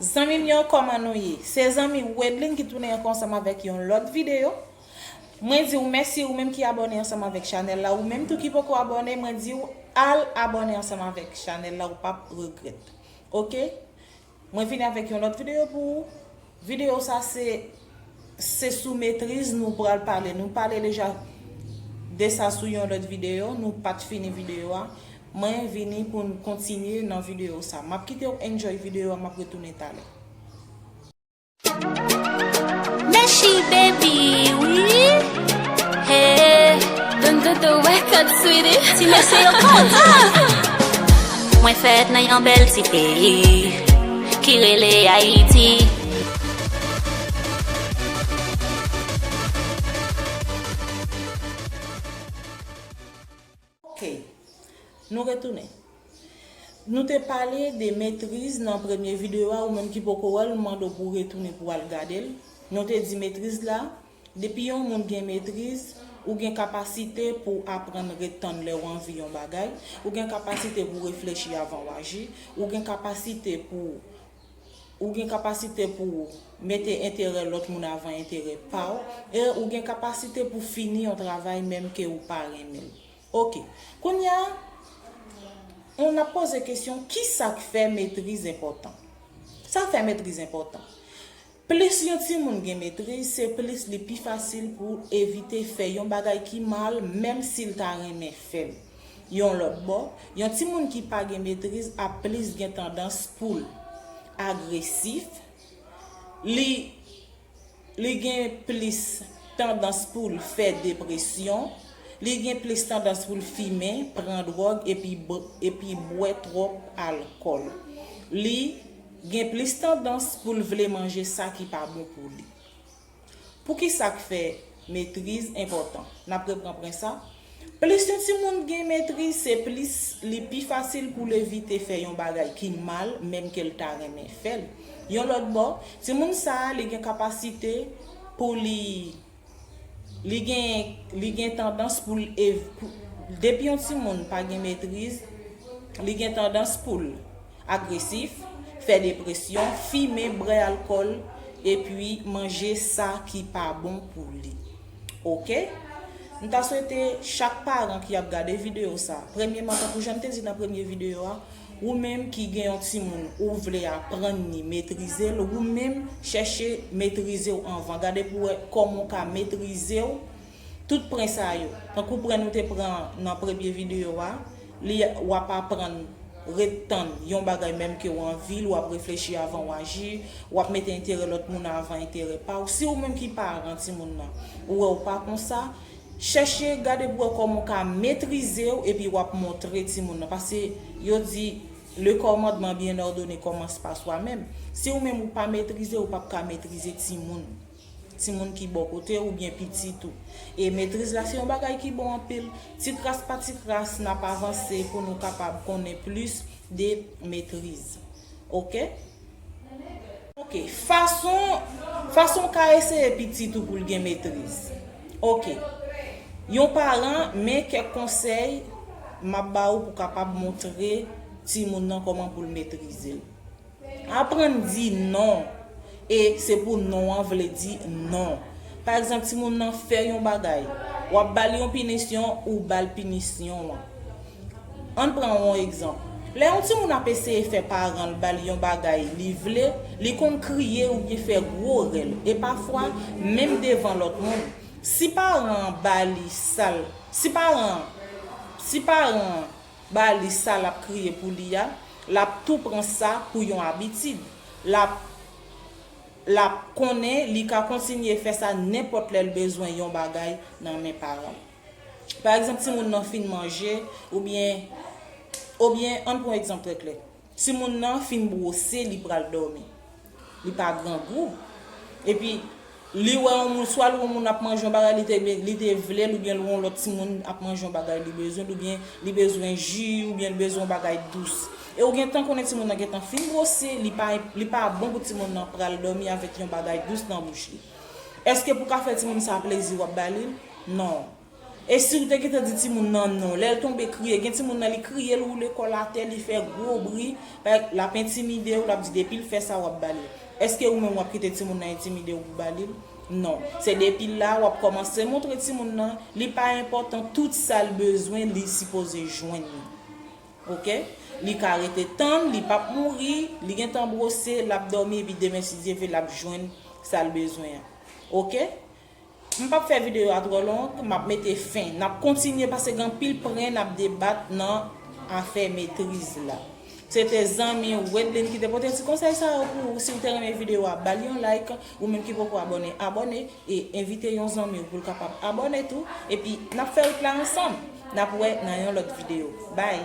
Zanmim yo koman nou ye se zanmi wedlin ki tounen anko ansanm avek yon lot video mwen diw mèsi ou menm ki abone ansanm avek chanel la ou menm tou ki poko abone mwen diw al abone ansanm avek chanel la ou pap regrèt ok mwen vini avek yon lot video pou ou video sa se Se sou metriz nou pral pale. Nou pale deja desa sou yon lòt videyo. Nou pat fini videyo a. Mwen vini pou nou kontinye nan videyo sa. Map kite ou enjoy videyo a map retounen talè. Mèsi baby wi hey Don Dodo record sweetie Ti mesye yo koz Mwen fèt nan yon bèl ti peyi Ki rele Ayiti Ok. Nou retounen. Nou te pale de metriz nan premye video a ou menm ki poko wèl m mande w pou w retounen pou w al gade l. Nou te di metriz la, depi yon moun gen metriz, ou gen kapasite pou w aprann ret tann lè w anvi yon bagay, ou gen kapasite pou w reflechi avan w aji, ou gen kapasite pou w. ou gen kapasite pou w mete enterè lòt moun avan enterè pa w, e ou gen kapasite pou fini yon travay menm ke ou pa renmen l. Ok. Kounya, on ap poze kesyon, kisa k fè metriz enpòtan? Sa fè metriz enpòtan? Plis yon timoun gen metriz, se plis li pi fasil pou l evite fè yon bagay ki mal menm si l ta renmen fè l. Yon lòt bò, yon timoun ki pa gen metriz ap plis gen tandans pou l agresif, li li gen plis tandans pou l fè depresyon, li gen plis tandans pou l fimen, pran dwòg epi epi bwè twòp alkòl. Li. gen plis tandans pou l vle manje sa ki pa bon pou li. Poukisa k fè metriz enpòtan? N ap repranpren sa, Plis yon timoun gen metriz, se plis li pi fasil pou l evite fè yon bagay ki mal menmke l ta renmen fè l. Yon lòt bò, timoun sa a li gen kapasite pou li. Li gen li gen tandans pou l ev pou depi yon timoun pa gen metriz li gen tandans pou l agresif, fè depresyon, fimen, bwè alkòl epi manje sa ki pa bon pou li ok m ta swete chak paran ki ap gade video sa premyeman tankou jan m te di nan premye video a Ou menm ki gen yon timoun ou vle aprann ni metrize l ou menm chèche metrize w anvan gade pou wè kòman w ka metrize w tout pren sa yo tankou pren nou te pran nan premye videyo a li w ap aprann ret tann yon bagay menm ke w anvi l w ap reflechi avan w aji w ap mete enterè lòt moun avan enterè pa w si ou menm ki paran timoun nan ou wè w pa konsa Chèche gade pou wè kòman w ka metrize w epi w ap montre timoun nan. Pase yo di Le commandement bien ordonné commence par soi même. Si ou menm ou pa metrize, ou p ap ka metrize timoun. Timoun ki bò kote w oubyen pitit ou. E metriz la se yon bagay ki bon anpil. Ti kras pa ti kras n ap avanse pou nou kapab konnen plis de metriz. Ok? Ok, fason Fason w ka eseye pitit ou pou l gen metriz Ok Yon paran, men kèk konsèy m ap ba ou pou w kapab montre timoun nan kòman pou l metrize l Aprann di non e se pou non an vle di non Pa egzanp timoun nan fè yon bagay w ap ba l yon pinisyon ou ba l pinisyon an Ann pran yon egzanp. Lè yon timoun ap eseye fè paran l ba l yon bagay li vle, li konn kriye oubyen fè gwo rèl, e pafwa menm devan lòt moun. Si paran an ba li sa l si paran an si paran an ba li sa l ap kriye pou li a, l ap tou pran sa pou yon abitid. L ap l ap konnen li ka kontinye fè sa nenpòt lè l bezwen yon bagay nan men paran l. Pa egzanp, timoun nan fin manje, oubyen, obyen, ann pran yon egzanp trè klè. Timoun nan fin bwose, li pral dòmi. Li pa grangou. Epi, li wè yon moun, swa l wè yon moun ap manje yon bagay li te vle l, oubyen l wè yon lòt timoun ap manje yon bagay li bezwen l, oubyen li bezwen ji, oubyen li bezwen yon bagay dous. E ou gentan konnen timoun nan gentan fin bwose, li pa bon pou timoun nan pral dòmi avèk yon bagay dous nan bouch li. Eske pou ka fè timoun sa plezi wap ba lil? Non. E siw te gentan di timoun nan non, lèl tonbe kriye, gen timoun nan li kriye li woule kòl atè li fè gwo bri, lap entimidew, lap di depil fè sa wap ba lil. Eske ou menm wap kite timoun nan entimidew pou ba lil? Non. Se depi la wap kòmanse montre timoun nan li pa enpòtan tout sal bezwen li sipoze jwenn li. Ok Li ka rete tann li pap mouri Li gentan brose lap domi epi demen si Dye ve lap jwenn sal bezwen an ok M pap fè video a trò long map mete fen nap kontinye pase gen anpil pren nap debat nan afè metriz la Se te zanmi ou Wedlin ki te pote ti konsèy sa yo pou ou si ou te renmen video a bal yon like. Ou menm ki poko abòne abòne e envite yon zanmiw poul kapab abòne tou epi nap fè wout la ansanm nap wè nan yon lòt video bye.